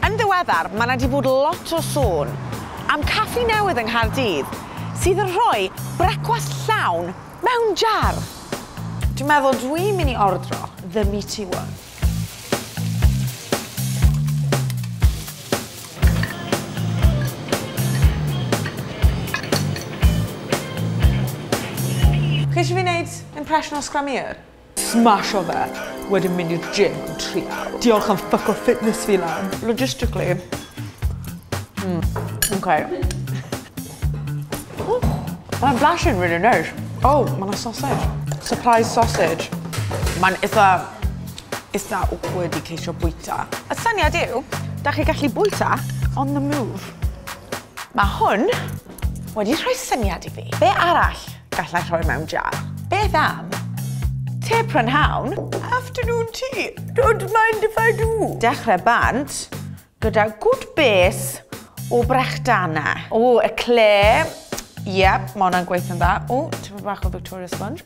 Yn ddiweddar, mae 'na 'di bod lot o sôn am caffi newydd yng Nghaerdydd sydd yn rhoi brecwast llawn mewn jar! Dwi'n meddwl dwi'n mynd i ordro The Meaty One. Chi isio fi neud impression o Scrummy Her? Smasho fe, wedyn mynd i'r gym am tri awr. Diolch am ffyco fitness fi lan. Logistically. Mm, okay. Oh, mae'n blasyn really nice. Oh, mae'n sausage. Surprise sausage. Mae'n eitha... eitha awkward i ceisio bwyta. Y syniad yw, da chi gallu bwyta on the move. Mae hwn Wedi rhoi syniad i fi. Be arall gallai rhoi mewn jar? Beth am te prynhawn? Afternoon tea. Don't mind if I do. Dechrau bant gyda good base o brechdana. O, eclair. Yep, mae hwnna'n gweithio'n dda. O, tipyn bach o Victoria sponge.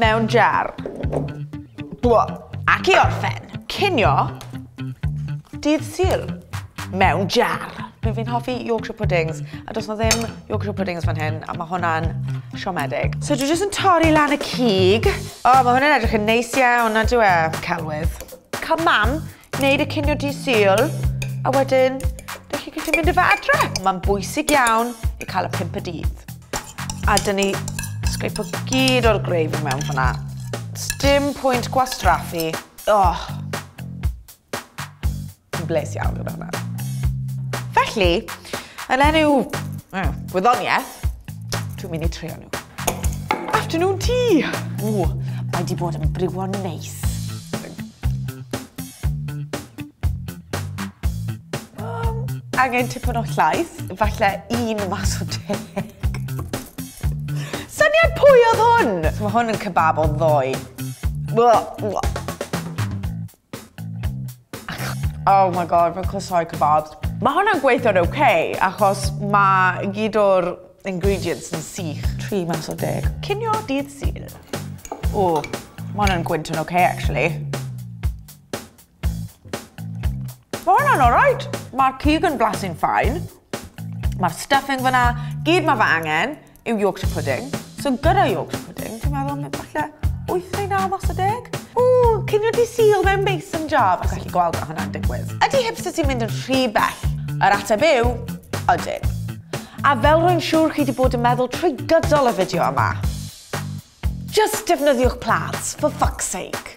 Mewn jar. Bwa. Ac i orffen. Cinio. Dydd Sul. Mewn jar. Dwi fi'n hoffi Yorkshire puddings, a does na ddim Yorkshire puddings fan hyn, a mae hwnna'n siomedig. So dwi jyst yn torri lan y cig. O, oh, mae hwnna'n edrych yn neis iawn, na dwi e, celwydd. Come mam, Gwneud y cinio di syl, a wedyn, dych chi'n gallu mynd i fe adre. Mae'n bwysig iawn i cael y pimp y dydd. A dyn ni sgripo gyd o'r greif i mewn fyna. Dim pwynt gwastraffu. Oh. Yn bles iawn gyda hwnna. Felly, yn enw gwyddoniaeth, dwi'n mynd i trio nhw. Afternoon tea! Ww, mae di bod yn briwon neis. Um, angen tipyn o llaeth, falle un mas o deg. Syniad pwy oedd hwn? So mae hwn yn kebab o ddoe. Blah, blah. Oh my god, mae'n clysau kebabs. Mae hwnna'n gweithio'n oce, okay, achos mae gyd o'r ingredients yn sych. Tri mas o deg. Cynio dydd syl. O, mae hwnna'n gwynt yn oce, okay, actually. Mae hwnna'n alright. Mae'r cig yn blasu'n ffain. Mae'r stuffing fyna, gyd mae fe angen yw Yorkshire pudding. So gyda Yorkshire pudding, dwi'n meddwl mae falle 8 neu 9 os y deg. O, cynio di syl mewn mason jar, fes allu gweld mae hwnna'n digwydd. Ydy hipster ti'n mynd yn rhy bell? Yr ateb yw, ydyn. A fel rwy'n siŵr chi wedi bod yn meddwl trwy gydol y fideo yma, just defnyddiwch plats, for fuck's sake.